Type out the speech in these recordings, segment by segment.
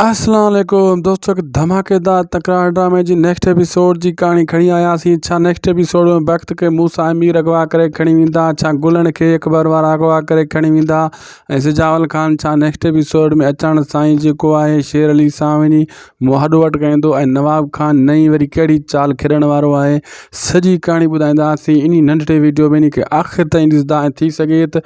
السلام عليڪم دوستو هڪ ڌماڪيدار تڪرار ڊرامي جي نيڪسٽ ايپيسوڊ جي ڪهاڻي کڻي آياسين ڇا نيڪسٽ ايپيسوڊ ۾ بخت کي موسا ۽ مير اغوا ڪري کڻي ويندا ڇا گلڻ کي اڪبر وارا اغوا ڪري کڻي ويندا ۽ سجاول خان ڇا نيڪسٽ ايپيسوڊ ۾ اچاڻ سان ئي جيڪو آهي شير علي سان وڃي مهاڏو وٽڪائيندو ۽ نواب خان نئين وري ڪهڙي چال کيڏڻ وارو آهي سڄي ڪهاڻي ٻڌائينداسين انهي ننڍڙي ويڊيو ۾ انهي کي آخر تائين ڏسندا ۽ ٿي سگهي ته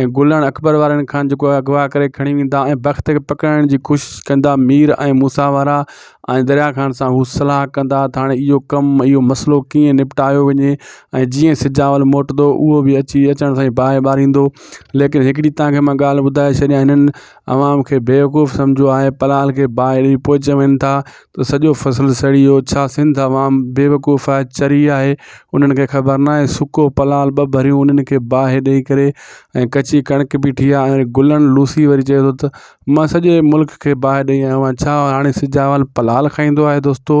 ۽ گلڻ اڪبر وارن کان جيڪو اغوا ڪري کڻي ويندا ۽ بخت کي پڪڙڻ جي ڪوشش ڪندا مير ۽ موسيٰ وارا ۽ دريا خان سان هو صلاح ڪندا ته هاڻي اهو ڪم اهو مسئلو ڪيئن نپٽايو وڃي ۽ جيئن سجاول موٽندو اهو به اچي اچڻ سان ئي باهه ٻاريندو ليڪن هڪڙي تانکي مان ڳالهه ٻڌائي ڇڏيان هنن عوام کي بيوقوف سمجهيو آهي پلال کي باهڙي پوء چون ٿا ته سڄو فصل سڙي ويو ڇا سنڌ عوام بيوقوف آهي چري آهي انهن کي خبر ناهي سڪو پلال ٻه ڀريون انهن کي باهه ڏئي ڪري ۽ ڪچي ڪڻڪ بيٺي آهي ۽ گلن لوسي وري چئي ٿو ته مان سڄي ملڪ کي باهه ڏئي آيو آهيان ڇا هاڻي سجاول پلال کائيندو آهي دوستو